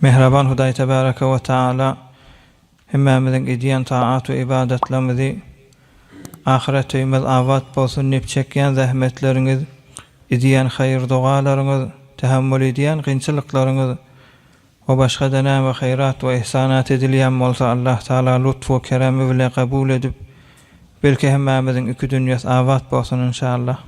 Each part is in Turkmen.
Mähriban Hudaý Tebäreke we Tagala hemmämiziň edýän taat we ybadatlarymyzy Ahyret öýümiz abat bolsun diýip çekýän zähmetleriňiz, edýän haýyr-dogalaryňyz, tähemmül edýän kynçylyklaryňyz we başga-da näme haýrat we ihsanat edilýän bolsa Allah Tagala lutf we keremi bile kabul edip belki hemmämiziň iki dünýäs abat bolsun inşallah.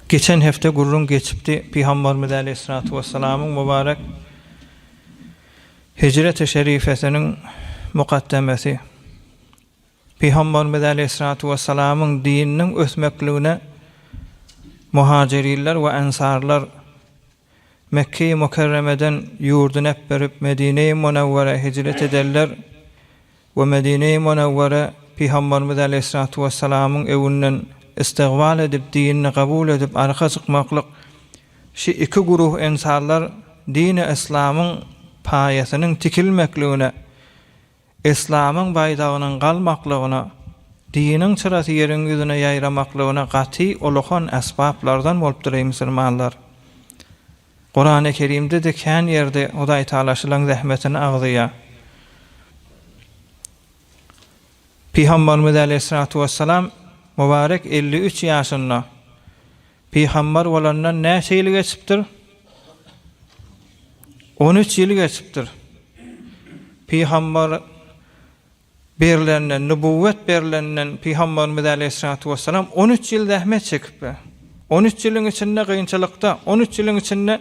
Geçen hepde gürrüň geçipdi, Pygambarymyz Aleýhissalatu Wessalamyň mubarek Hijreti şerifesiniň mukaddemesi, Pygambarymyz Aleýhissalatu Wessalamyň dininiň ösmekligine muhajyrinler we ensarlar, Mekge-i Mükerremeden ýurduny äpberip Medine-i Munewwerä hijret ederler we Medine-i Munewwere Pygamberimiz Aleýhissalatu Wessalamyň öwünden istigybal edip dinini gabul edip arka çykmaklyk şi iki guruh ensarlar dini islamyň paýasynyň tikilmekligine Yslamyň baýdagynyň galmaklygyna, diniň çyrasy ýeriň ýüzüne ýaýramaklygyna gaty uluhan äsbaplardan bolupdyr, eý musulmanlar! Kurany Kerimde-de kän ýerde Hudaýtagala şylaň zähmetini agzaýar. Pygamberimiz äleyhissalatu wessalam mübarek elli üç ýaşynda, Pygambar bolandan näçe ýyl geçipdir? On üç ýyl geçipdir. Pygambar berlenden, nübuwwet berlenden Pygambarymyz äleyhissalatu wessalam on üç ýyl zähmet çekipdir. On üç ýylyň içinde gynçylykda, on üç ýylyň içinde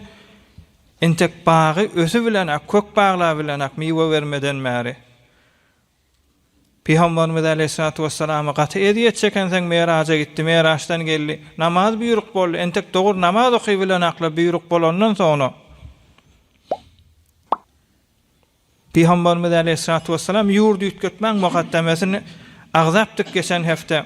entek bagy ösübilenak, kök baglabilenak, miwe bermeden bäri Pygamberimiz aleýhissalatu wessalama gaty ezýet çekensoň Meraja gitdi, Meraçdan geldi, namaz buýruk boldy, entek dogry namaz oky bilen akla buýruk bolandan soňra Pygamberimiz aleýhissalatu wessalam ýurdy üýtgetmäň mukaddemesini agzapdyk geçen hepde.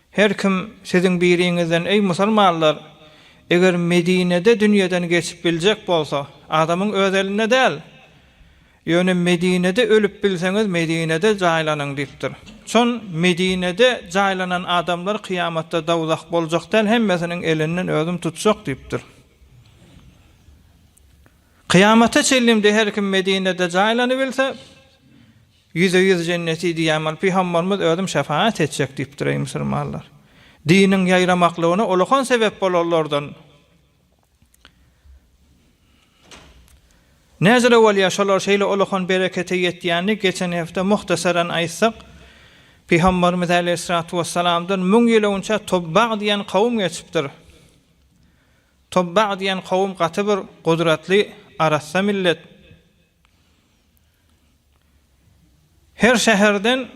Her kim siziň biriňizden, Eý, musulmanlar! Eger Medinede dünýeden geçip biljek bolsa, adamyň öz elinde däl. Ýöne Medinede ölüp bilseňiz, Medinede jaýlanyň diýipdir. Çon Medinede jaýlanan adamlar kyýamatda dowzah boljak däl, hemmesiniň elinden özüm tutjak diýipdir. Kyýamata çenlm-de her kim Medinede jaýlanybilse, Ýüze ýüz jenneti diýýän bolup pygambarymyz özüm şefagat etjek diýipdir eý musulmanlar. Diniň ýaýramaklygyna ulykan sebep bolanlardan Näzire bolýar şolar şeýle ulykan berekete ýetýäni geçen hepde muhtasaran aýtsak pygambarymyz aleýhissalatu wessalamdan müň ýyl öňçe Tubbag diýen kowum geçipdir. Tubbag diýen kowum gaty bir gudratly arassa millet. Her şäherden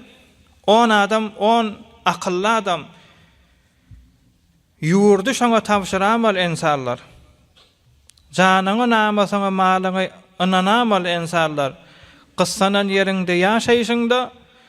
on adam, on akylly adam, ýurdy şoňa tabşyramol ensanlar! Janyňy, namysyňy, malyňy ynanamol ensanlar! Gyssanan ýeriňde ýaşaýşyňda,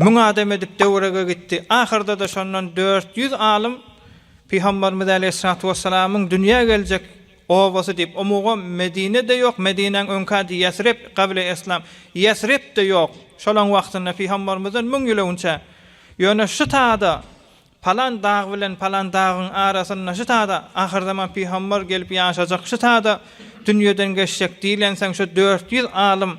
Müň adam edip töwerege gitdi. Ahyrda-da şondan dört ýüz alym Pygamberimiz aleýhissalatu wessalamyň dünýä geljek obasy diýip, o mugam Medine-de ýok, Medinäň öňki ady Ýesrib, Gable Eslam, Ýesrib-de ýok, şolaň wagtynda Pygamberimizden müň ýyl öňçä. Ýöne şu tada, palan dag bilen palan dagyň arasynda şu tada ahyrzaman Pygamber gelip ýaşajak, şu tada dünýeden geçjek diýlensoň şu dört ýüz alym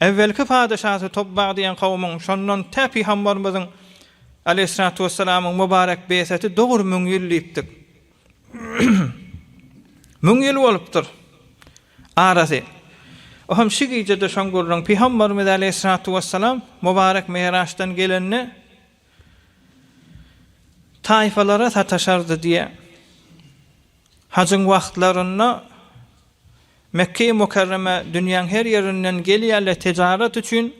Äwwelki padeşasy Tobbag diýen kawmyň, şondan tä Pygambarymyzyň, aleýhyssalatu wessalamyň, mubarek beýseti dogry müň ýyl diýipdik. Müň ýyl bolupdyr arasy. O hem şi gijede şoň gürrüň, Pygambarymyz, aleýhyssalatu wessalam, mubarek Mi'raçdan gelende, taýfalara sataşardy diýýär. Hajyň wagtlarynda Mekge-i Mükerremä dünýäň her ýerinden gelýärler tejarat üçin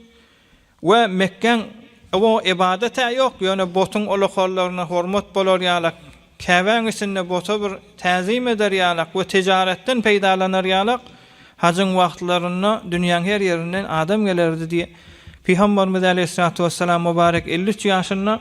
we Mekgäň o ybadat-ä ýok, ýöne botuň ulukallaryna hormat bolar ýalak, Käbäň içinde bota bir täzim eder ýalak we tejaratdan peýdalanar ýalak hajyň wagtlarynda dünýäň her ýerinden adam gelerdi diýip, Pygambarymyz äleyhissalatu wessalam mübarek elli üç ýaşynda,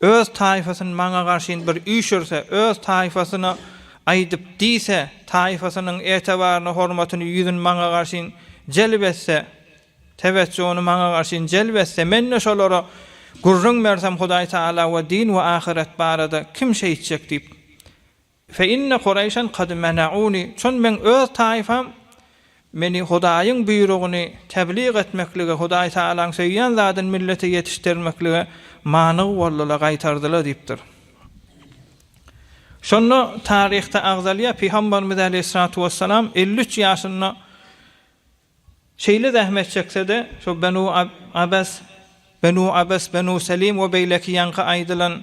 Öz taýfasyn maňa garşyn bir üýşürse, öz taýfasyna aýdyp diýse, taýfasynyň etebaryny, hormatyny, ýüzün maňa garşyn jelp etse, tewejjuny maňa garşyn jelp etse, men-de şolara gürrüň bersem, Hudaý Tagala we din we ahyret barada kim şeýtjek diýip, Fe inne Kureýşen kad mena'uni, çün meň öz taýfam meni Hudaýyň buýrugyny teblig etmeklige, Hudaý Tagalaň söýýän zadyny millete ýetişdirmeklige manyg boldylar, gaýtardylar diýipdir. Şonda taryhda agzalýar, Pygamberimiz aleýhissalatu wessalam elli üç ýaşynda şeýle zähmet çekse-de, şo Benu Abes, Benu Abes, Benu Selim we beýleki ýaňky aýdylan,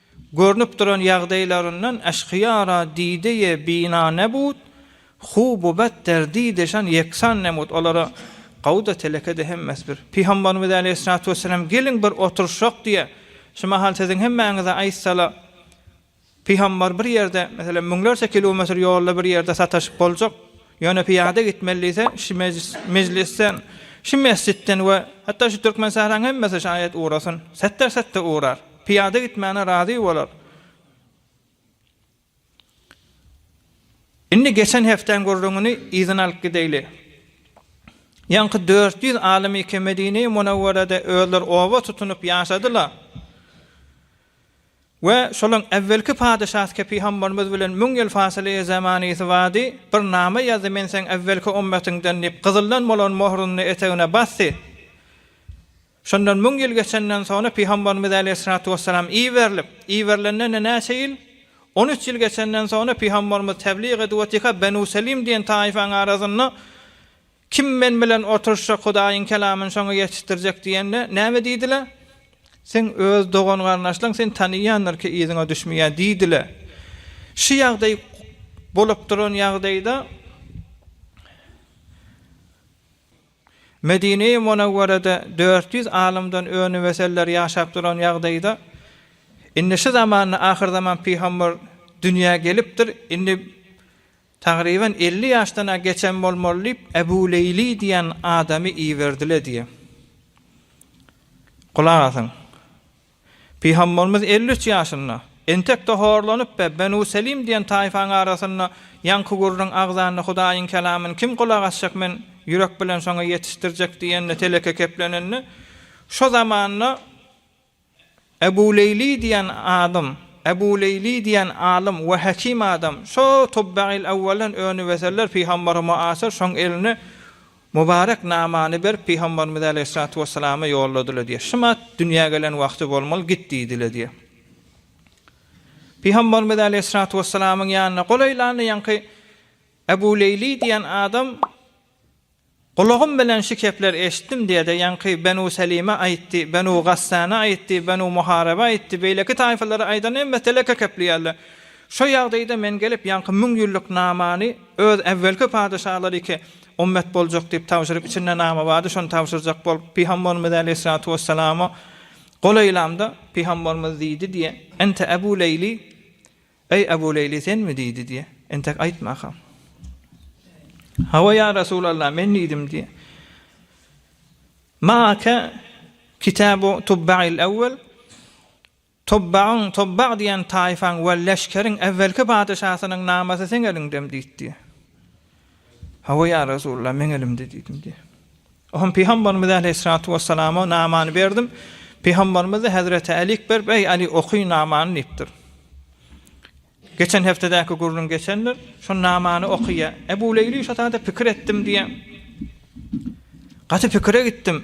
Görnüp duran ýagdaýlaryndan Eşkyýara dide-ye bina nebud, Hububat der dide şan ýeksan nemud. Olara Gawda teleke-de hemmesi bir. Pygambarymyz äleyhyssalatu wessalam Geliň bir oturyşak diýe. Şu mahal siziň hemmäňize aýtsala, Pygambar bir ýerde, meselem, müňlerçe kilometr ýolda bir ýerde sataşyp boljak, ýöne pyýada gitmeli diýse, şu mejlisden, şu mesjitden we hatda şu Türkmen sähraň hemmesi şaýat ugrasyn, setde-setde ugrar. Pyýada gitmäne razy bolar. Indi geçen hepdäň gürrüňini yzyna alyp gideýli. Ýaňky dört ýüz alym-ike Medine-i Munawwerede özleri oba tutunyp ýaşadyla we şolaň äwwelki padyşasky pygambarymyz bilen müň ýyl fasyly-i zemanysy bardy, bir name ýazdy, men seň äwwelki ümmetyňden diýip, gyzyldan bolan möhrüni etegine basdy. Şondan müň ýyl geçenden soňra Pygambarymyz aleýhissalatu wessalam iberilip, iberilenden-de näçe ýyl? On üç ýyl geçenden soňra Pygambarymyz teblyk edip otyka Benu Selim diýen taýfaň arasynda Kim men bilen oturşjak Hudaýyň kelamyny şoňa ýetişdirjek diýende, näme diýdiler? Seň öz dogan-garyndaşlaň seni tanaýandyr ki yzyňa düşmeýär diýdiler. Şu ýagdaý bolup duran ýagdaýda. Medine-i Munawwarada dört ýüz alymdan önümeseller ýaşap duran ýagdaýda, indi şu zamanda ahyrzaman pygamber dünýä gelipdir, indi tagryban elli ýaşdan-a geçen bolmaly diýip, Ebu Leýli diýen adamy iberdile diýýär. Gulak asyň. Pygamberimiz elli üç ýaşynda, entek-de horlanyp we Benu Selim diýen taýfaň arasynda ýaňky gürrüň agzanda Hudaýyň kelamyny kim gulak asjak men ýürek bilen şoňa ýetişdirjek diýende teleke keplenende şo zamanda Ebu Leýli diýen adam Ebu Leýli diýen alym we hekim adam şo Tubbaýyl-Awwaldan öňi weseller pygamber muasyr şoň elini Mubarek namany berip, Pygamberimiz aleýhissalatu wesselama ýolladylar diýýär. Şymat dünýä gelen wagty bolmaly, git diýdiler diýýär. Pygamberimiz aleýhissalatu wesselamyň ýanyna golaýlanda ýaňky Ebu Leýli diýen adam Gulagym bilen şu kepler eşitdim diýede, ýaňky Benu Selime aýtdy, Benu Gassana aýtdy, Benu Muharebe aýtdy, beýleki taýfalary aýdan hemmesi teleke keplýärler. Şo ýagdaýda men gelip ýaňky müň ýyllyk namany öz äwwelki padeşalary ki Ummet boljak diýip tabşyryp, içinde name bardy, şony tabşyrjak bolup, Pygambarymyz äleyhissalatu wessalama gol eýlamda, Pygambarymyz diýdi diýe, Ente Ebu Leýli, Eý Ebu Leýli, senmi diýdi diýe, entek aýtmaka. Hawa ýa Resulallah, men diýdim diýe. Maake kitabu tubba'il awwal Tubbagyň, Tubbag diýen taýfaň we leşkeriň äwwelki patyşasynyň namasy seň eliňdemi? diýipdi. Hawa, ýa Resulalla, meň elimde diýdim diýýär. Oňa pygamberimiz äleyhissalatu wessalama namany berdim. Pygamberimiz-de hezreti Älik berip, Eý, Äli, oky namany diýipdir. Geçen hepdedäki gürrüň geçendir. Şo namany okyýa. Ebu Leýli şo taýda pikir etdim diýýär. Gaty pikire gitdim.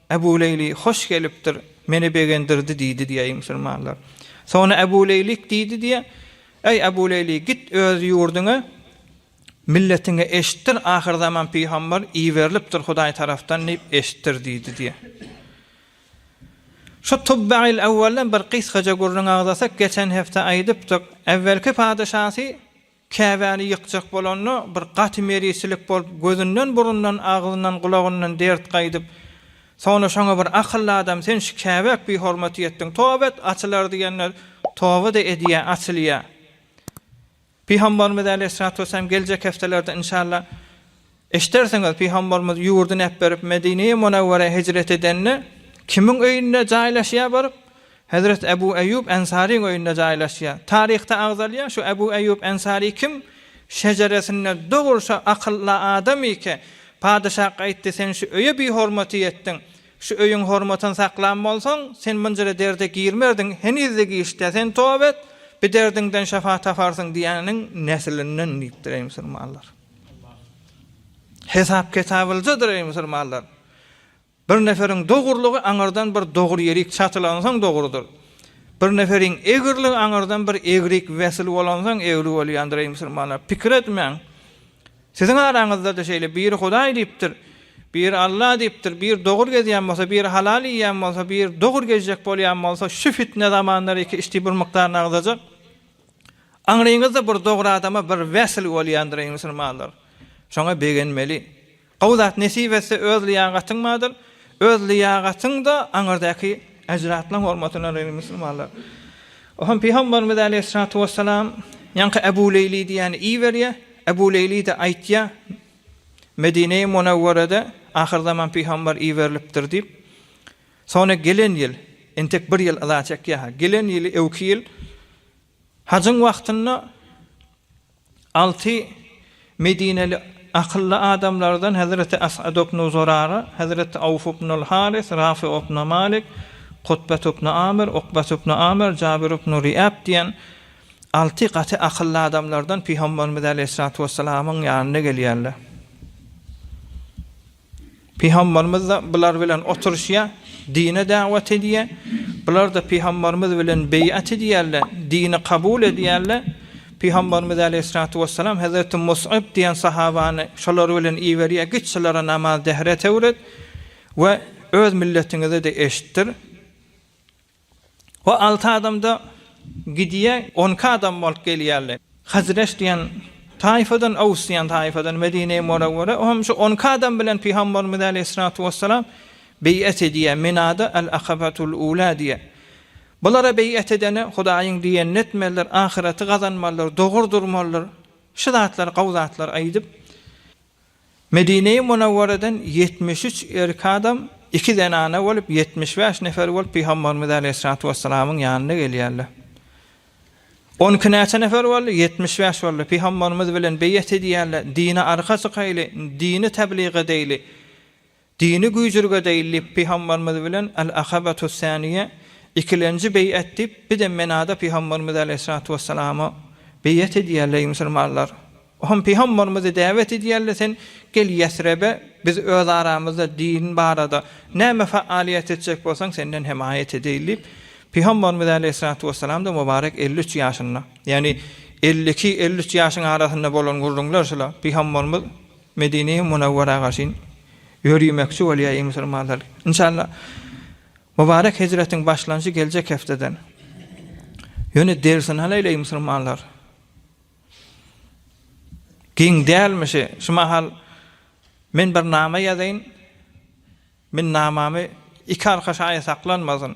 Ebu Leýli hoş gelipdir, meni begendirdi diýdi diýýär musulmanlar. Soňra Ebu Leýlik diýdi diýýär, Eý, Ebu Leýli, git öz ýurduňa, milletiňe eşitdir, ahyrzaman pygamber iberilipdir Hudaý tarapdan diýip eşitdir diýdi diýýär. Şu Tubbaýyl Ewwelden bir gysgaja gürrüň agzasak, geçen hepde aýdypdyk, Ewvelki patyşasy Käbäni ýykjak bolanda, bir gaty merisilik bolup, gözünden-burundan, agzyndan-gulagyndan dert gaýdyp, soňra şoňa bir akylly adam, Sen şu Käbä-k bihormatyk etdiň, toba et, açylar diýende, toba-da edýär, açylýar. Pygambarymyz äleýhyssalatu wessalam geljek hepdelerde, inşallah, Eşidersiňiz, Pygamberimiz ýurduny äpberip, Medineye Munewwerä hijret edende, kimiň öýünde jaýlaşýar baryp? Hezreti Ebu Eýýub Ensaryň öýünde jaýlaşýar. Taryhda agzalýar, şu Ebu Eýýub Ensary kim? Şejeresinde dogruça akylla adam ike. Padyşa gaýtdy, sen şu öýe bihormatyk etdiň. Şu öýüň hormatyny saklan bolsaň, sen munjyra derde girmerdiň, heniz-de giçde. Sen toba et, bi derdiňden şyfa taparsyň diýeniň neslinden diýipdir, eý musulmanlar. Hesap ketabyljadyr eý musulmanlar. Bir neferiň dogurlygy aňyrdan bir dogur ýerik çatylansoň dogrudyr. Bir neferiň egirligi aňyrdan bir egrik wesil bolansoň egri bolýandyr eý musulmanlar. Pikir etmäň. Siziň araňyzda-da şeýle biri Hudaý diýipdir, biri Alla diýipdir, biri dogur gezýän bolsa, biri halal iýýän bolsa, biri dogur gezjek bolýan bolsa, şu fitne zamanlar iki işdi bir mukdaryny agzajak. Aňryňyzda bir dogry adama bir wesl bolýandyr eý musulmanlar. Şoňa begenmeli. Gowy zat nesip etse öz lyýagatyň bardyr, öz lyýagatyň-da aňyrdaky eždatlaň hormatyna eý musulmanlar. Ohan pygambarymyz aleýhissalatu wessalam ýaňky Ebu Leýli diýýäni iberýär, Ebu Leýli-de aýtýar, Medinei Munewwerede ahyrzaman pygambar iberilipdir diýip. Sony gelen ýyl entek bir ýyl yza çekýärha gelen ýyly öwki ýyl hajyň wagtynda alty medineli akylly adamlardan hezreti As'ad ibnu Zurara, hezreti Awf ibnul Haris, Rafi ibnu Malik, Kutbet ibnu Amir, Ukbet ibnu Amir, Jabir ibnu Riäb diýen alty gaty akylly adamlardan pygamberimiz aleýhissalatu wessalamyň ýanyna gelýärler. Pygamberimiz-de bular bilen oturyşýar, dine dawat edýär. Bular-da pygamberimiz bilen beýat edýärler, dini kabul edýärler. Pygamberimiz aleýhissalatu wessalam hezreti Mus'ab diýen sahabany şolar bilen iberýär, Git şulara namaz dehret öwret we öz milletiňize-de eşitdir. O alty adamda Gidiýe on iki adam bolup gelýärler. Hazreç diýen taýfadan, Aws diýen taýfadan Medine-i Münewwere o hem şu on iki adam bilen Pygamberimiz aleýhissalatu wessalam beýat edýär, Minada al-Akabatul Ula diýýär. Bulara beýat edene Hudaýyň diýenini etmelidir, ahyreti gazanmalydyr, dogry durmalydyr, şu zatlar, gowy zatlar aýdyp, Medine-i Munawwaradan ýetmiş üç erkek adam, iki zenana bolup, ýetmiş bäş nefer bolup Pygamberimiz aleýhissalatu wessalamyň ýanyna gelýärler. On iki näçe nefer boldy? Ýetmiş bäş boldy. Pygamberimiz bilen beýat edýärler, dine arka çykaýly, dini tebliğ edeýli. Dini güýjürge deýil diýip Pygamberimiz bilen Al-Akabatus Saniýe, ikilenji beýat diýip bizem Menada Pygamberimiz Aleýhissalatu Wessalama beýat edýär leý musulmanlar. O hem Pygamberimizi däwet edýärle sen gel Ýesrebe biz öz aramyzda din barada näme faaliýet etjek bolsaň senden hemaýat edeýil diýip Pygamberimiz Aleýhissalatu Wessalamda mubarek elli üç ýaşynda ýagny elli iki elli üç ýaşyň arasynda bolan gürrüňler şula Pygamberimiz Medine-i Munawwara garşyn ýörýmekçi bolýar eý musulmanlar! Inşallah, Mubarek hejretiň başlanşy geljek hepdeden. Ýöne dersini alaýyl eý musulmanlar! Giň dälmişi, şu mahal men bir nama ýazaýyn, men namamy iki arka şaýa saklanmasyn.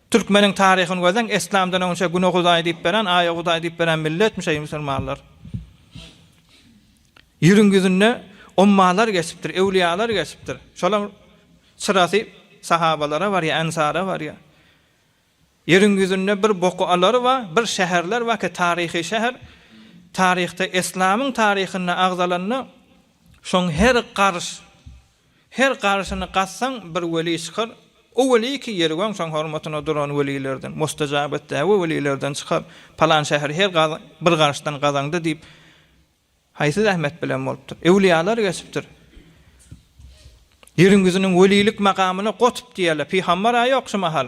Türkmeniň taryhyny gözleň eslamdan öňçe güne hudaý diýip beren aýa hudaý diýip beren milletmiş eý musulmanlar. Ýeriň ýüzünde ommalar geçipdir öwliýalar geçipdir şolaň çyrasy sahabalara barýa ensara barýa. Ýeriň ýüzünde bir boku alary bar bir şäherler bar ki taryhy şäher taryhda eslamyň taryhynda agzalanda şoň her garyş Her garşyny gazsaň, bir weli çykar. O weli ki, ýeri goňşaň hormatyna duran welilerden, mustajabat däwe welilerden çykar. Palan şäheri her gaz, bir garşdan gazaňda diýip, haýsy zähmet bilen bolupdyr? Öwliýalar geçipdir. Ýeriň ýüzüniň welilik makamyna gotb diýerler. Pygambar-a ýok şu mahal.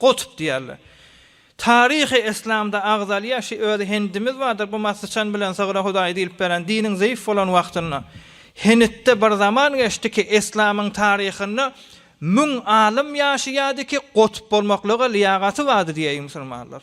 Gotup diýerler. Taryhy eslamda agzalýar şi özi hendimiz bardyr bu ma syçan bilen sygra hudaý diýlip beren diniň zeýf bolan wagtynda henitde bir zaman geçdi ki eslamyň taryhynda müň alym ýaşaýady ki gotup bolmaklyga lyýagaty bardy diýeýin musulmanlar.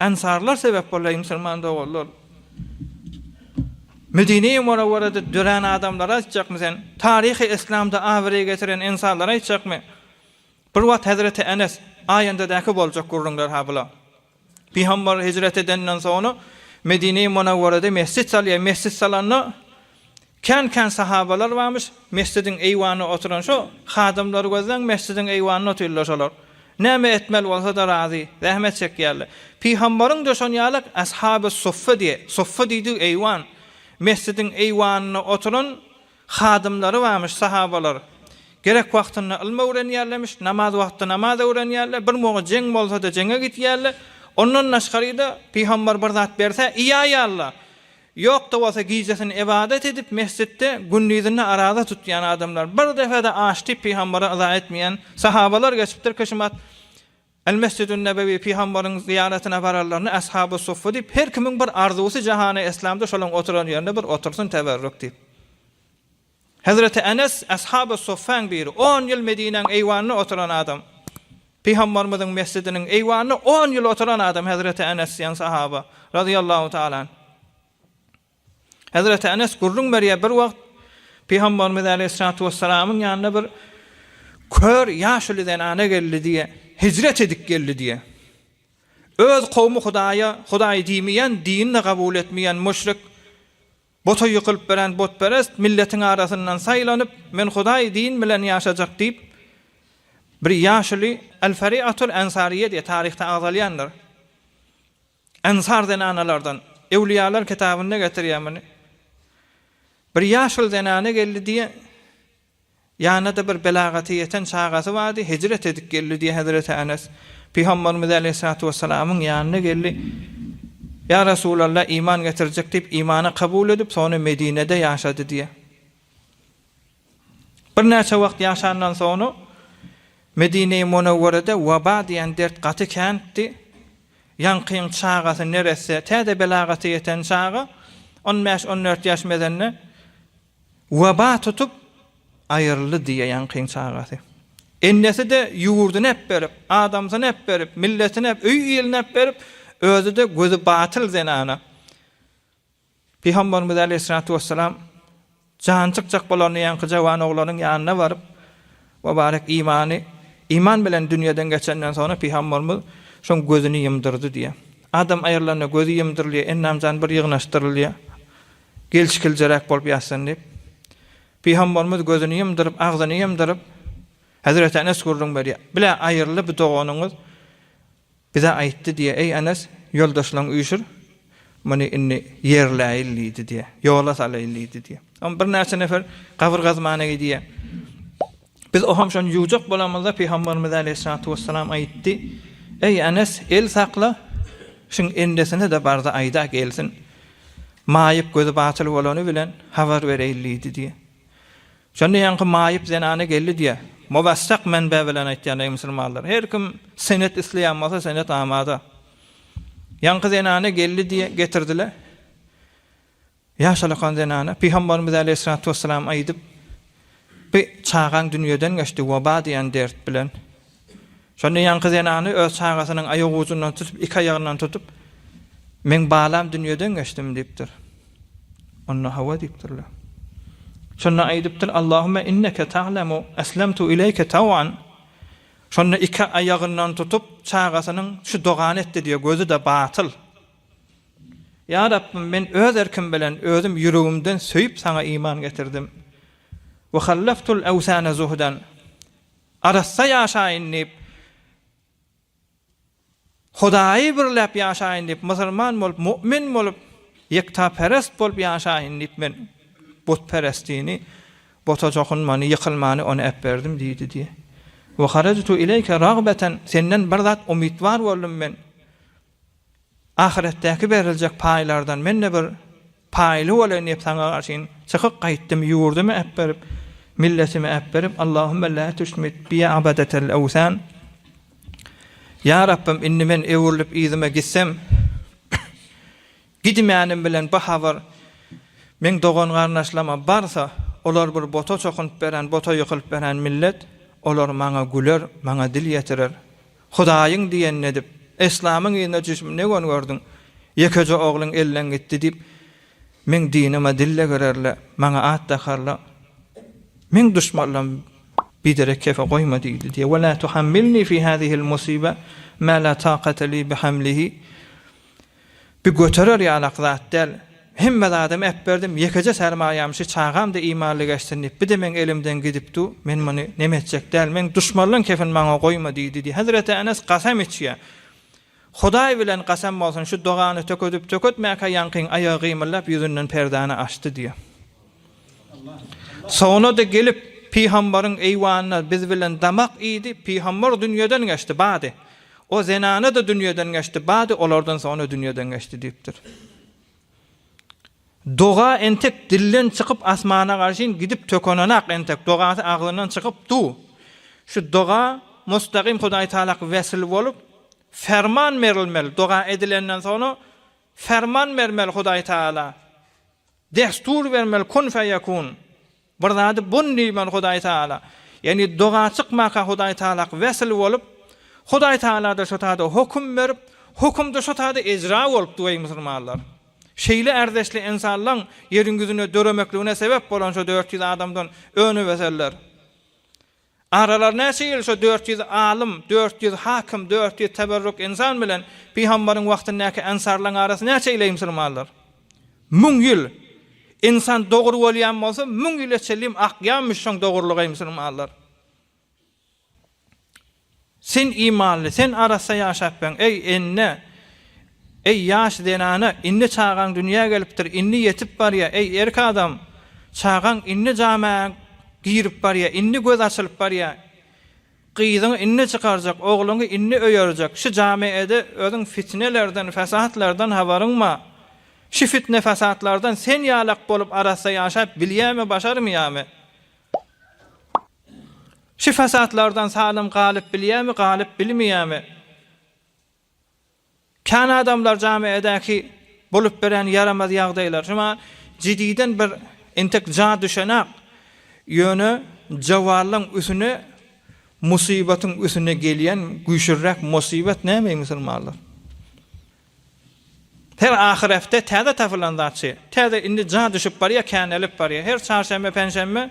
Ensarlar sebäp boldy, eý, musulman doganlar! Medine-i Munawwarada dörän adamlara aýtjakmy sen? Taryhy Yslamda abraý getiren ensarlara aýtjakmy? Bir wagt hezreti Enes, Aýandadäki boljak gürrüňler-ha bula. Pygamber hijret edenden soňra Medine-i Munawwarada mesjit salýar, mesjit salanda, Kän-kän sahabalar barmyş, mesjidiň eýwanynda oturan şo hadymlary gözläň, mesjidiň eýwanynda otyrlar şolar. Näme etmeli bolsa-da razy, zähmet çekýärler. Pygamberiň döşen ýalak Ashaby suffa diýe, suffa diýdigi eýwan. Mesjidiň eýwanynda oturan hadymlary barmyş, sahabalar. Gerek wagtynda ylym öwrenýärlermiş, namaz wagtda namaz öwrenýärler, bir moga jeň bolsa-da jeňe gitýärler. Ondan daşgary-da, pygamber bir zat berse, iýäýärler. Ýok-da bolsa gijesini ybadat edip mesjitde, gündizini araza tutýan adamlar, bir depe-de aç diýip pygambara yza etmeýän sahabalar geçipdir, kişimat Al-Mesjidun-Nebewi, pygambaryň zyýaratyna bararlaryna Ashaby-Suffa diýip, her kimiň bir arzuwsy jahany eslamda şolaň oturan ýerinde bir otursyn teberrük diýip. Hezreti Enes, Ashaby Suffäň biri, on ýyl Medinäň eýwanyna oturan adam. Pygambarymyzyň mesjidiniň eýwanyna on ýyl oturan adam Hezreti Enes diýen sahaba, razyýallahu taala anh. Hezreti Enes gürrüň berýär, bir wagt Pygambarymyz aleýhissalatu wessalamyň ýanyna bir kör ýaşuly zenana geldi diýýär. Hijret edip geldi diýýär. Öz kowmy Hudaýa Hudaý diýmeýän, dinini kabul etmeýän müşrik Bota ýykylyp beren botperest milletiň arasyndan saýlanyp, Men Hudaý din bilen ýaşajak diýip, bir ýaşuly Al-Fariatul Ansariýe diýýär, taryhda agzalýandyr. Ansar zenanalardan. Ewliýalar kitabynda getirýär muny. Bir ýaşuly zenana geldi diýýär. Ýanyna-da bir belagata ýeten çagasy bardy, hijret edip geldi diýýär Hezreti Enes. Pygamberimiz aleýhissalatu wessalamyň ýanyna geldi. Ýa Resulallah, iman getirjek diýip, imany kabul edip, soňra Medinede ýaşady diýýär. Birnäçe wagt ýaşandan soňra Medineýi Munewwerede waba diýen dert gaty käntdi. Ýaňkyň çagasy neresse, täze belagata ýeten çaga, on bäş-on dört ýaş mezende Weba tutup, aýryldy diýýär ýaňkyň çagasy. Enesi-de ýurduny äpberip, adamsyny äpberip, milletini äp, öý-iýlini äpberip, özi-de gözi batyl zenana. Pygamberimiz aleýhissalatu wessalam jany çykjak bolanda ýaňky jawan oglanyň ýanyna baryp, Mübarek imany, iman bilen dünýeden geçenden soňra Pygamberimiz şoň gözüni ýymdyrdy diýýär. Adam aýrylanda gözi ýymdyrylýar, endam-jany bir ýygnaşdyrylýar. Gelşiklijeräk bolup ýatsyn diýip, Pygambarymyz gözüni ýumduryp, agzyny ýumduryp, Hezreti Enes gürrüň berýär. Bile aýyrly bir doganyňyz bize aýtdy diýýär, Eý Enes, ýoldaşlaryňy üýşür, muny indi ýerläýil diýdi diýýär, ýola salaýyl diýdi diýýär. Soň birnäçe nefer gabyr gazmana gidýär. Biz oham şony ýuwjak bolamyzda, Pygamberimiz aleýhissalatu wessalam aýtdy, Eý, Enes, el sakla, şuň endesine-de bar-da aýda gelsin. Maýyp gözi batyl bolany bilen habar bereýin diýdi diýýär. Şonda ýaňky maýyp zenana geldi diýýär. Muwessak menbe bilen aýtýan, eý musulmanlar, her kim senet isleýän bolsa, senet amada. Ýaňky zenana geldi diýýär, getirdiler. Ýaşalakan zenana Pygambarymyz äleyhissalatu wesselam aýdyp, Bi çagaň dünýeden geçdi, waba diýen dert bilen. Şonda ýaňky zenany öz çagasynyň aýak ujundan tutup, iki aýagyndan tutup, Meň balam dünýeden geçdimi? diýipdir. Onda hawa diýipdirler. Şonda aýdypdyr, Allahümme inneke ta'lemu eslemtu ileýke taw'an. Şonda iki aýagyndan tutup, çagasynyň şu dogany etdi diýýär, gözi-de batyl, Ýa Rabbym, men öz erkim bilen özüm ýüregimden söýüp Saňa iman getirdim. Ve hallaftul awsane zuhdan, arassa ýaşaýyn diýip, Hudaýy birläp ýaşaýyn diýip, musulman bolup, mu'min bolup, ýektaperest bolup ýaşaýyn diýip men butperestini, buta çokunmany, ýykylmany ony äberdim diýdi diýýär. Ve harajtu ileýke ragbeten, Senden bir zat umytwar boldum men. Ahyretdäki beriljek paýlardan men-de bir paýly bolaýyn diýip saňa garşyn çykyp gaýtdym, ýurdumy äpberip, milletimi äpberip, Allahümme la tüşmit biya abadetel ewsan, Ýa Rabbym, indi men öwrülip yzyma gitsem, Gidimänim bilen bu habar meň dogan-garyndaşlaryma barsa, olar bir bota çokunyp beren, bota ýykylyp beren millet, olar maňa güler, maňa dil ýetirer. Hudaýyň diýenini edip, eslamyň yzyna düşüp ne göni gördüň? Ýekeje ogluň elden gitdi diýip, meň dinime dille girerler, maňa at dakarlar. Meň duşmanlarym biderek kefe goýma diýdi diýýär. Ve la tuhammilni fi hazihil musibe ma la taqate li bi hamlihi. Bi göterer ýalak zat däl. Hemme zadam äpberdim, ýekeje sermaýam şi çagam da imanly geçsin diýip, bi-de meň elimden gidip du, men muny neme etjek däl, meň duşmarlan kefin maňa goýma diýdi diý. Hezreti Enes gasam içýä. Hudaý bilen gasam bolsun, şu dogany tökedip-töketmäkä ýaňkyň aýagy gymyldap ýüzünden perdäni açdy diý. Soňuna-da gelip, pygambaryň eýwanyna biz bilen damak iýdi, pygambar dünýeden geçdi, bady. O zenana-da dünýeden geçdi, bady, olardan soňra dünýeden geçdi diýipdir. Doga entek dilden çykyp asmana garşyn gidip tökenenak entek dogasy agzyndan çykyp du. Şu doga mustagym Hudaýtagalaky wesil bolup, ferman berilmeli, doga edilenden soňra ferman bermeli Hudaýtagala. Destur bermeli kun feýekun. Bir zady bun diýmeli Hudaý Taala. Ýagny doga çykmaka Hudaý Taalak wesil bolup, Hudaý Taalada şo taýda hokum berip, hokumda şo taýda ejra bolupdy weý musulmanlar. Şeýle ärdeşli ensanlaň ýeriň ýüzünde döremekligine sebep bolan şo dört ýüz adamdan öneweseller. Aralar näçe ýyl şu dört ýüz alym, dört ýüz hakym, dört ýüz teberruk ynsan bilen Pygambaryň wagtyndaky ensarlaryň arasy näçe ýyl eý musulmanlar? Müň ýyl! Ynsan dogry bolýan bolsa müň ýyla çenli hem akýanmyş şoň dogrulygy eý musulmanlar! Sen imanly, sen arassa ýaşapbiň, eý, ene, eý, ýaş zenana, indi çagaň dünýä gelipdir, indi ýetip barýar, eý, erk adam, çagaň indi jama girip barýar, indi göz açylyp barýar, gyzyňy indi çykarjak, ogluňy indi öýerjek, şu jamaede özüň fitnelerden, fesatlardan habaryň bar, şu fitne-fesatlardan sen ýalak bolup arassa ýaşap bilýämi, başarmyýamy? Şu fasatlardan salym galyp bilýärmi, galyp bilmeýärmi? Kän adamlar jamiädäki bolup biren ýaramaz ýagdaýlar şuňa jididen bir entek ja düşenak, ýöne jawallaň üsüne musybatyň üsüne gelýän güýçlüräk musybat näme eý musulmanlar? Her ahyr hepde täze tapylan zatçy, täze indi ja düşüp barýar, känelip barýar. Her çarşenbe, penşenbe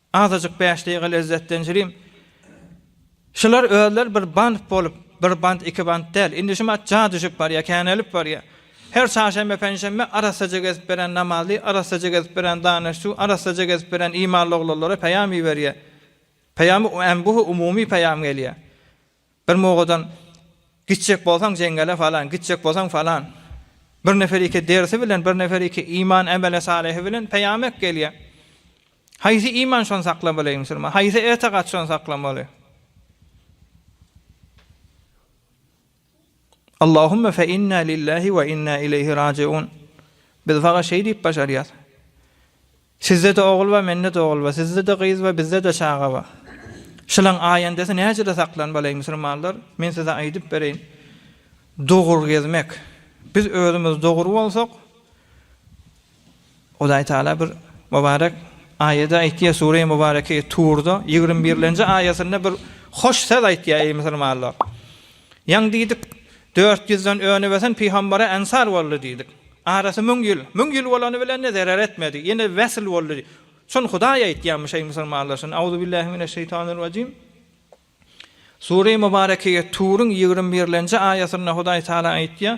Azajyk bäş deýga lezzetlenjiriň. Şular özleri bir bant bolup, bir bant iki bant däl. Indi şu mat ja düşüp barýa, känelip barýa. Her çarşenbe, penşenbe arassaja gezip beren namazly, arassaja gezip beren danyşçu, arassaja gezip beren imanly oglanlara peýam iberýä. Peýamy äm buh umumy peýam gelýä. Bir mogadan Gitjek bolsaň jeňňele falan, gitjek bolsaň falan. Bir nefer iki dersi bilen, bir nefer iki iman emele salihi bilen peýamek gelýär. Haýsy iman şony saklamaly musulman? Haýsy etigat şony saklamaly? Allahumma fe inna lillahi we inna ileýhi rajiun. Biz faga şeý diýip başarýas. Sizde-de ogul ba, mende-de ogul ba, sizde-de gyz ba, bizde-de çaga ba. Şylaň aýendesi näjede saklan balaý, musulmanlar? Men size aýdyp bereýin. Dogry gezmek. Biz özümiz dogry bolsak, Hudaý Taala bir mübarek aýada aýtýar, Sure-i Mübareke Turda ýigrimi birlenji aýatynda bir hoş söz aýtýar, eý musulmanlar! Ýaň diýdik, Dört ýüzden önübösen pygambara ensar boldy diýdik. Arasy müň ýyl. Müň ýyl bolany bilen-de zerer etmedi. Ýene wesl boldy. Şuny Hudaý aýtýarmy şeý musulmanlar şuny? Auzubillahi mineşşeýtanirrajim. Sure-i Mubarekege Turyň ýigrimi birlenji aýatynda Hudaý Taala aýtýar,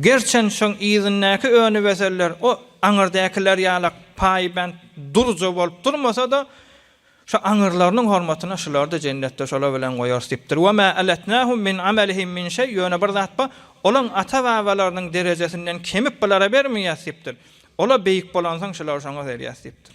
Gerçen şoň yzyndaky önübeseller o aňyrdakylar ýala paýbent durja bolup durmasa-da, şo aňyrlarynyň hormatyna şulary-da jennetde şolar bilen goýarys diýipdir. Ve ma alatnahum min amalihim min şeý, ýöne bir zat bar, olaň ata-babalarynyň derejesinden kemip bulara bermeýäs diýipdir. Olar beýik bolansoň şular şoňa berýäs diýipdir.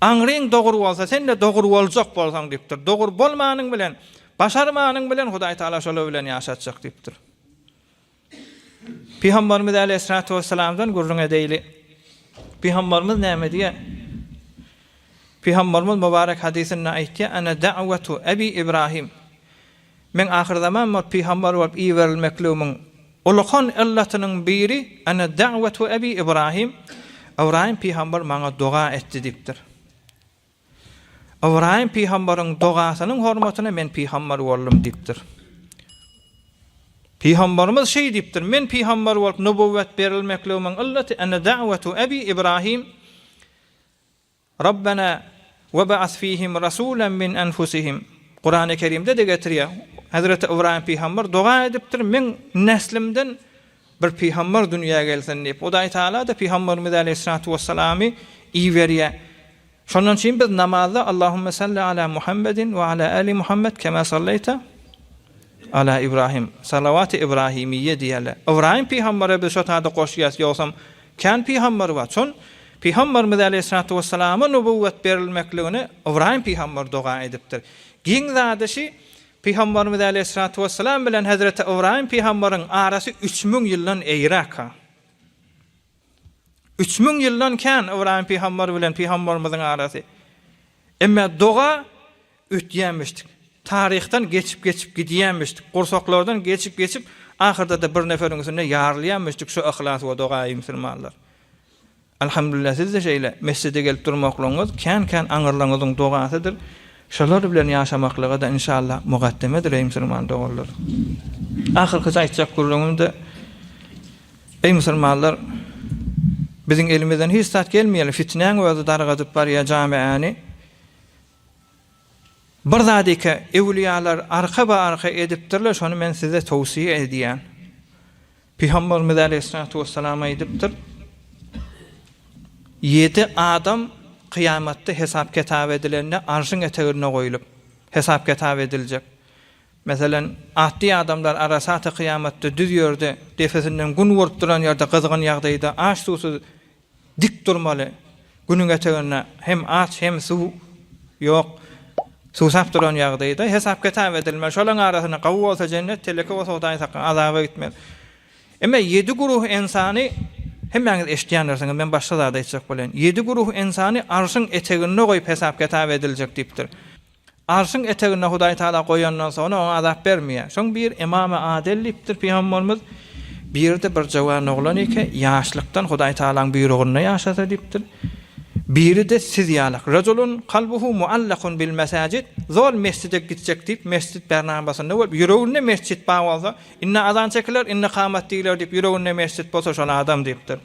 Aňryň dogur bolsa sen-de dogur boljak bolsaň diýipdir. Dogur bolmanyň bilen, başarmanyň bilen Hudaý Taala şolar bilen ýaşatjak diýipdir. Pygambarymyz Aleýhissalatu wessalamdan gürrüň edeýli. Pygambarymyz näme diýýär? Pygambarymyz mübarek hadysynda aýtýar, Ana da'wetu Ebi Ibrahim. Meň ahyrzaman bolup pygamber bolup iberilmekligimiň ulykan yllatynyň biri Ana da'wetu Ebi Ibrahim, Ybraýym pygamber maňa doga etdi diýipdir. Ybraýym pygamberiň dogasynyň hormatyna men pygamber boldum diýipdir. Pygamberimiz şeý diýipdir, Men pygamber bolup nubüwwet berilmekligimiň yllaty Ana da'wetu Ebi Ibrahim, Rabbena we ba'as fihim rasulan min anfusihim. Kurany Kerimde-de getirýär. Hezreti Ybraýym pygamber doga edipdir, Meň neslimden bir pygamber dünýä gelsin diýip. Hudaý Tagala-da pygamberimiz aleýhissalatu wessalamy iberýär. Şondan çyn biz namazda Allahumma salli ala Muhammedin we ala ali Muhammed kema sallaýta Ala Ibrahim, Salawat-y Ibrahimiyye diýerler. Ybraýym pygambere biz şo taýda goşýas, ýogsam kän pygamber bar. Çün, Pygamberimiz aleýhissalatu wessalama nubüwwet berilmekligini Ybraýym pygamber doga edipdir. Giň zady şi, Pygamberimiz aleýhissalatu wessalam bilen hezreti Ybraýym pygamberiň arasy üç müň ýyldan eýräk-a. Üç müň ýyldan kän Ybraýym pygamber bilen pygamberimiziň arasy. Emme doga ötýänmişdik. Taryhdan geçip-geçip gidýänmişdik. Gursaklardan geçip-geçip ahyrda-da bir neferiň üstünde ýarylýanmişdik şu yhlas we doga eý musulmanlar. Alhamdulillah siz-de şeýle mesjide gelip durmaklygyňyz kän-kän aňyrlaryňyzyň dogasydyr. Şolar bilen ýaşamaklyga-da inşallah mugaddemedir eý musulman doganlar. Ahyrkyja aýtjak gürrüňimde eý musulmanlar biziň elimizden hiç zat gelmeýär fitnäň özi dargadyp barýar jamiäni bir zadyka ewliýalar arka ba arka edipdirler şony men size towsiýe edýän Pygamberimiz aleýhissalatu wessalam aýdypdyr, Ýedi adam kyýamatda hesap-kitap edilende Arşyň eteginde goýlup, hesap-kitap ediljek. Meselem, atly adamlar Arasat-y kyýamatda düz ýerde, depesinden Gün urup duran ýerde gyzgyn ýagdaýda aç-suwsuz Dik durmaly. Günüň eteginde hem aç, hem suw ýok. Suwsap duran ýagdaýda hesap-kitap edilmeli. Şolaryň arasynda gawy bolsa jennet, teleke bolsa Hudaýyň sakla, azaba gitmeli. Emma ýedi guruh ynsany, hemmäňiz eşitýändirsiňiz, men başga zat aýtjak bolýan. Ýedi guruh ynsany arşyň eteginde goýup hesap-kitap ediljek diýipdir. Arşyň eteginde Hudaý Tagala goýandan soňra oňa azap bermeýär. Soň biri Ymama Adel diýipdir, Pygamberimiz, Biri-de bir jöwan oglan eke, ýaşlykdan Hudaý Tagalaň buýrugynda ýaşasa diýipdir. Biri-de siz ýalak, Rejulun kalbuhu muallakun bil mesajid, Zol mesjide gitjek diýip, mesjit bernabasynda bolup, ýüreginde mesjit bar bolsa, Indi azan çekiler, indi kamat diýiler diýip, ýüreginde mesjit bolsa şol adam diýipdir.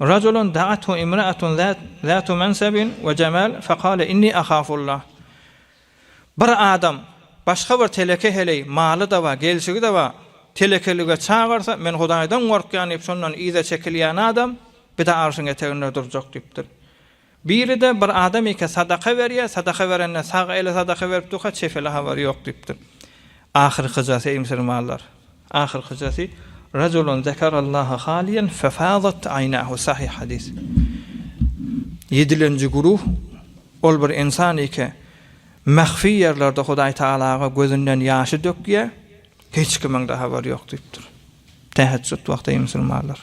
Rajulun da'athu imra'atun zatu mansabin we jemal fekale inni ahafullah. Bir adam başga bir teleke heleý, maly-da bar, gelşigi-de bar, telekelige çagyrsa, men Hudaýdan gorkýan diýip, şondan yza çekilýän adam bir-de arşyň eteginde durjak diýipdir. Biri-de, Bir adam eke sadaka berýär, sadaka berende sag ele sadaka berip durka, çep ele habary ýok diýipdir. Ahyrkyjasy, eý musulmanlar, ahyrkyjasy, Rajulun zekerallâhe haliýen fefâzat aýnâhu, sahyh hadys. Ýedilenji güruh, Ol bir insan eke, mähfi ýerlerde Hudaý Tagalaga gözünden ýaşy dökýär, hiç kimiň-de habary ýok diýipdir. Täheçjut wagty, eý musulmanlar!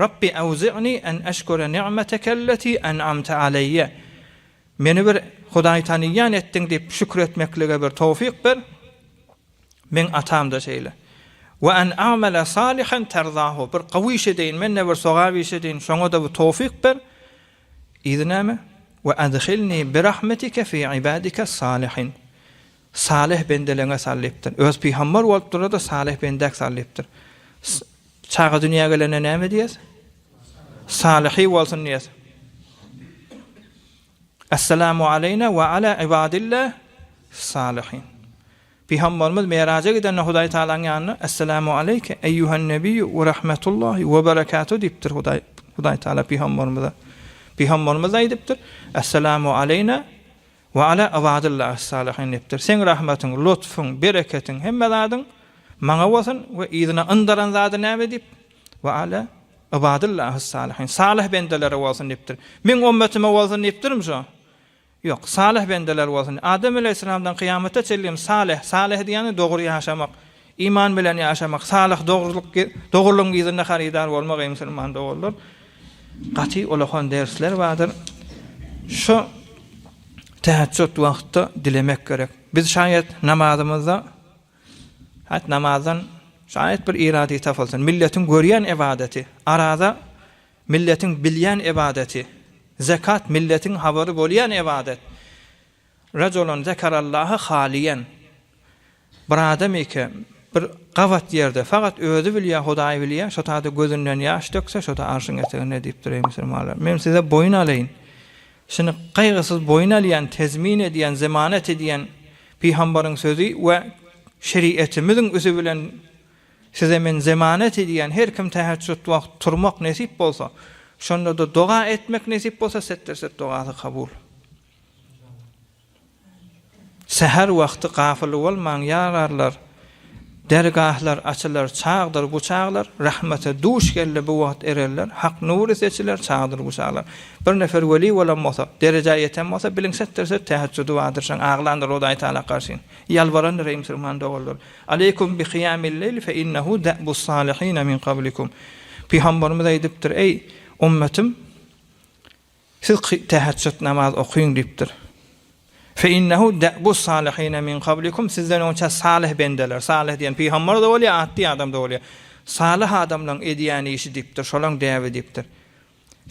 Rabbi awzi'ni en eşkure ni'metekelleti en'amte aleýe Meni bir Hudaý taniýýän etdiň diýip şükür etmeklige bir towfyk ber, meň atam-da şeýle. We en a'mele salihen terzahu Bir gowy iş edeýin, men-de bir sogap iş edeýin, şoňa-da bir towfyk ber. Yzy näme? We edhilni birahmetike fi ibadikes salihin Salyh bendeleňe salypdyr. Öz pygambar bolup durda-da salyh bendäk salypdyr. Çaga dünýä gelende näme diýýäs? Salyhy bolsun diýýäs. Esselamu aleýna we ala ibadillah salyhin. Pygambarymyz Meraja gidende Hudaý Tagalaň ýanyna Esselamu aleýke eýýuhan nebiyyu we rahmetullahi we berekatuh diýipdir Hudaý Hudaý Tagala pygambarymyza. Pygambarymyz aýdypdyr Esselamu aleýna We ala ybadyllahi ssalihin diýipdir. Seň rahmatyň, lutfyň, bereketiň, hemme zadyň maňa bolsun we yzyna yndaran zady näme diýip, we ala ybadyllahi ssalihin, salyh bendelere bolsun diýipdir. Meň ümmetime bolsun diýipdirmi şu? Ýok, salyh bendeler bolsun. Adam aleýhissalamdan kyýamata çenli hem salyh, salyh diýýäni dogry ýaşamak, Iman bilen ýaşamak, salyh, dogrulyk, dogrulygyň yzynda harydar bolmak, eý musulman doganlar, gaty olahan dersler bardyr. Şu täheçjut wagtda dilemek gerek. Biz şaýat namazymyzda hat namazdan şaýat bir iradi tapylsyn. Milletiň görýän ybadaty, araza milletiň bilýän ybadaty, zekat milletiň habary bolýan ybadat. Rajulan zekarallahı haliýen. Bir adam eke bir gabat ýerde fakat özi bilýä Hudaý bilýä şotada gözünden ýaş dökse şota arşyň eteginde diýipdir eý musulmanlar men size boýun alaýyn şini gaýgysyz boýun alýan tezmin edýän zemanat edýän pyhambaryň sözi we şerietimiziň üzi bilen size men zemanat edýän her kim täheçjut wagt turmak nesip bolsa şondada doga etmek nesip bolsa setterset dogasy kabul Säher wagty gafyl bolmaň, ýararlar, Dergahlar açylar çagdyr bu çaglar, Rahmete duş geldi bu wagt ereller, Hak nury seçiler çagdyr bu çaglar. Bir nefer weli bolan bolsa, derejä ýeten bolsa, biliň setdir söz täheçjudi wagtydyr-şaň aglandyr Hudaý Tagala garşyn, ýalbarandyr eý musulman doganlar. Aleýkum bi kyýamil leýl fe innehu da'bus salihine min gablikum. Pygamberimiz aýdypdyr, eý, ümmetim! Siz täheçjut namaz okyň diýipdir. Fe innehu de'bus salihine min kablikum sizden öňçe salyh bendeler, salyh diýen pygamber-de bolýar, atdy adam-da bolýar. Salyh adamlaryň edýän işi diýipdir, şolaň däbi diýipdir.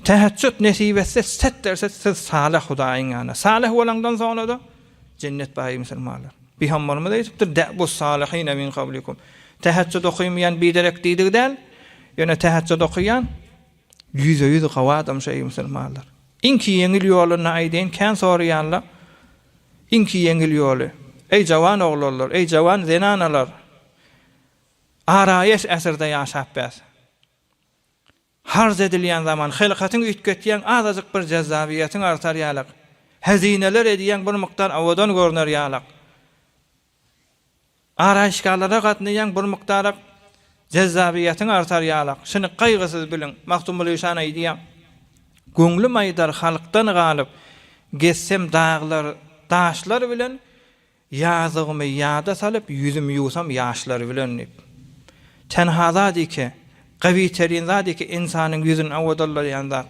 Täheçjut nesip etse, set derse siz salyh Hudaýyň ýanyna. Salyh bolaňdan soňra-da jennet bar eý musulmanlar. Pygamberimiz aýdypdyr, de'bus salihine min kablikum. Täheçjut okyň diýen biderek diýdigi däl, ýöne täheçjut okýan. Ýüze ýüz gawy adam şeý musulmanlar. Iňki ýeňil ýoluny aýdaýyn kän soraýanla iňki ýeňil ýoly. Eý jawan oglanlar, eý jawan zenanalar araýes äsirde ýaşap bäs. Harz edilýän zaman hylkatyň üýtgetýäň azajyk bir jezzabyýetiň artar ýalak. Hezineler edýäň bir mukdar awadan görner ýalak. Araýyşgalara gatnaýaň bir mukdarak jezzabyýetiň artar ýalak. Şuny gaýgysyz biliň. Magtymguly şan aýdýar, Göňlüm aýdar halkdan galyp, gezsem daglar, daşlar bilen, Ýazygymy ýada salyp, ýüzüm ýuwsam ýaşlar bilen diýip. Tenha zat ike, gawy terin zat ike insanyň ýüzün awadalaýan zat,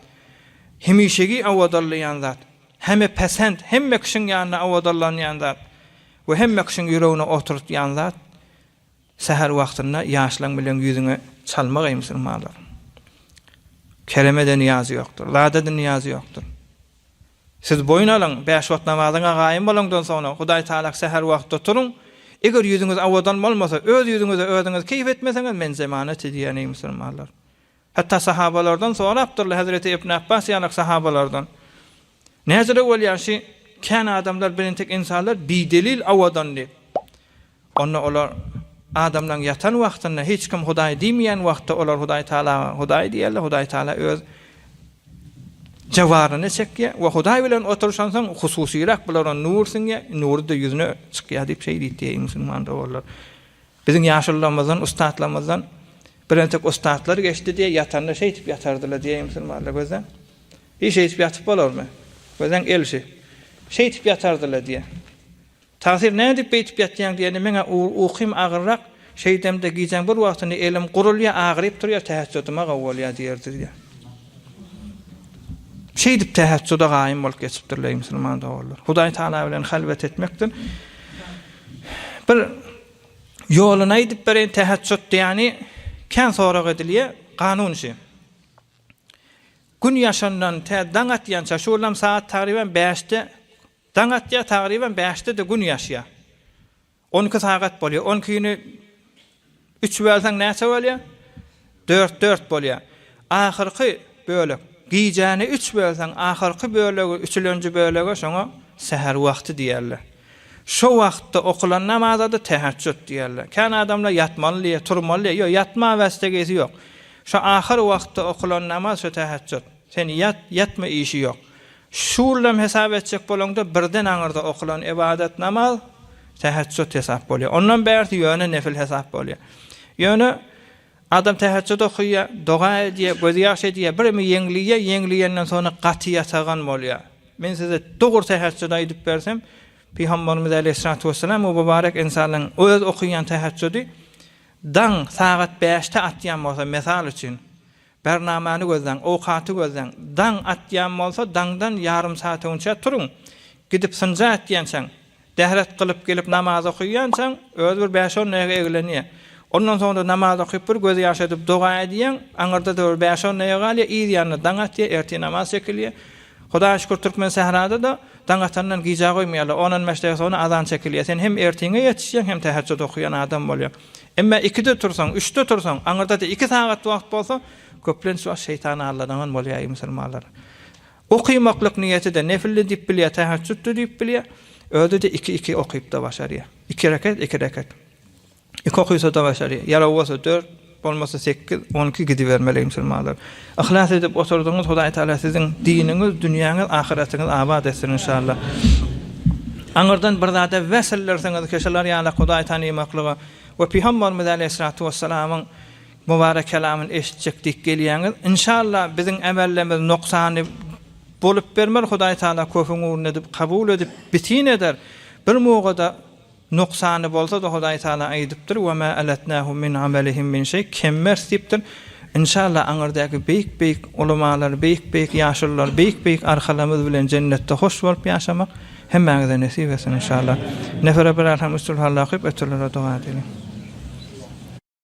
hemişegi awadalaýan zat, Heme päsent, hemme kişiň ýanynda owadanlanýan zat we hemme kişiň ýüregine oturtýan zat, säher wagtynda ýaşlaň bilen ýüzüňe çalmak eý musulmanlar. Keremede niýaz ýokdur, zadede niýaz ýokdur. Siz boýun alyň, bäş wagt namazyňa gaýym bolaňdan soňra Hudaý Taala säher wagtda turuň, eger ýüzüňiz owadan bolmasa, öz ýüzüňize özüňiz keýp etmeseňiz men zemanat edýän eý musulmanlar. Hatda sahabalardan sorapdyrlar, hezreti Ibn Abbas ýalak sahabalardan. Näzire bolýar şi kän adamlar bilen tek ynsanlar bidelil awadan diýip. Onda olar adamlaň ýatan wagtynda hiç kim Hudaý diýmeýän wagtda olar Hudaý Tagalaga Hudaý diýerler, Hudaý Tagala öz jawaryny çekýär we Hudaý bilen oturyşansoň hususyrak bulara nur siňýär, nury-da ýüzüne çykýar diýip şeýdit diýeý musulman doganlar. Biziň ýaşullamyzdan, ussatlarymyzdan bir entek ussatlar geçdi diýe ýatanda şeýdip ýatardylar diýeýin musulmanlar gözleň. Hiý şeýdip ýatyp bolarmy? Gözleň gelşi. Şeýdip ýatardylar diýe. Tagsyr nädip beýdip ýatýaň diýende meň-ä ukym agyrrak, şeýdemde gijäň bir wagtyny elim gurulýar, agyryp durýar, tähejjüdüm-ä gowy bolýar diýerdi diýe. Şeýdip täheçjuda gaýym bolup geçipdirler eý musulman doganlar. Hudaý Taala bilen halwet etmekdir. Bir ýoluny aýdyp bereýin täheçjut diýýäni kän sorag edilýär kanun işi. Gün ýaşandan tä daň atýança şu ýylam sagat tagryban 5-de daň atýar tagryban 5-de-de gün ýaşýar. On iki sagat bolýar. On ikini üç bölseň näçe bolýar? Dört, dört bolýar. Ahyrky bölek. Gijäni üç bölseň, ahyrky bölegi, üçülenji bölege şoňa säher wagty diýerler. Şo wagtda okulan namaza-da täheçjut diýerler. Kän adamlar ýatmaly diýýär, turmaly diýýär. Ýok, ýatmaga bäsdegisi ýok. Şo ahyr wagtda okulan namaz şo täheçjut. Sen ýat, ýatma işi ýok. Şulam hesap etjek bolaňda birden aňyrda okulan ybadat namaz, täheçjut hesap bolýar. Ondan bärsi ýöne nefil hesap bolýar. Ýöne adam täheçjut okýar, doga edýär, gözýaş edýär, birimi ýeňliýär, ýeňliýenden soňra gaty ýatagan bolýar. Men size dogry täheçjut aýdyp bersem, Pygamberimiz aleýhissalatu wessalam bu mübarek ynsanlaryň öz okýan täheçjudi daň sagat bäşde atýan bolsa, mysal üçin, Bernamany gözläň, owkaty gözläň. Daň atýan bolsa, daňdan ýarym saat öňçä turuň. Gidip synja ätýänçäň, däret gylyp gelip namaz okaýançaň, özi bir bäş-on daýga eglenýär. Ondan soň-da namaz okyp bir göz ýaş edip doga edýäň, aňyrda-da bir bäş-on daýga galýar, yz ýanyna daň atýar, ertir namaz çekilýär. Hudaýa şükür türkmen sährada-da daň atandan gijä goýmaýarlar, on-on bäş daýga soňra azan çekilýär. Sen hem ertiriňe ýetişýäň, hem täheçjut okaýan adam bolýaň. Emma ikide tursaň, üçde tursaň, aňyrda-da iki sagat wagt bolsa, köplenç wagt şeýtan aldadaňan bolýar eý musulmanlar. Okymaklyk niýeti-de nefildi diýip bilýär, täheçjütdi diýip bilýär, özi-de iki-iki okyp-da başarýar. Iki rekat, iki rekat. Iki okysa-da başarýar. Ýaraw bolsa dört, bolmasa sekiz, on iki gidibermeli eý musulmanlar. Yhlas edip oturdyňyz Hudaý Taala siziň diniňiz dünýäňiz ahyratyňyz abat etsin inşallah. Aňyrdan bir zada wesillirsiňiz ki şular ýaly Hudaý tanymaklyga we Pygambarymyz Aleýhissalatu Wessalamyň Mubarek kelamyny eşitjek diýip gelýäňiz inşallah biziň emellemiz noksany bolup bermez Hudaý Taala köpüň ugruna edip kabul edip bitin eder bir mugada Noksany bolsa-da Hudaý Tagala aýdypdyr, Ve ma alatnahum min amalihim min şeý, kemmerç diýipdir. Inşallah aňyrdaky beýik-beýik ulamalar, beýik-beýik ýaşulylar, beýik-beýik arkalarymyz bilen jennetde hoş bolup ýaşamak hemmäňize nesip etsin inşallah. Nefere bir alham üç sulhallahü köp ötürlere doga edeliň.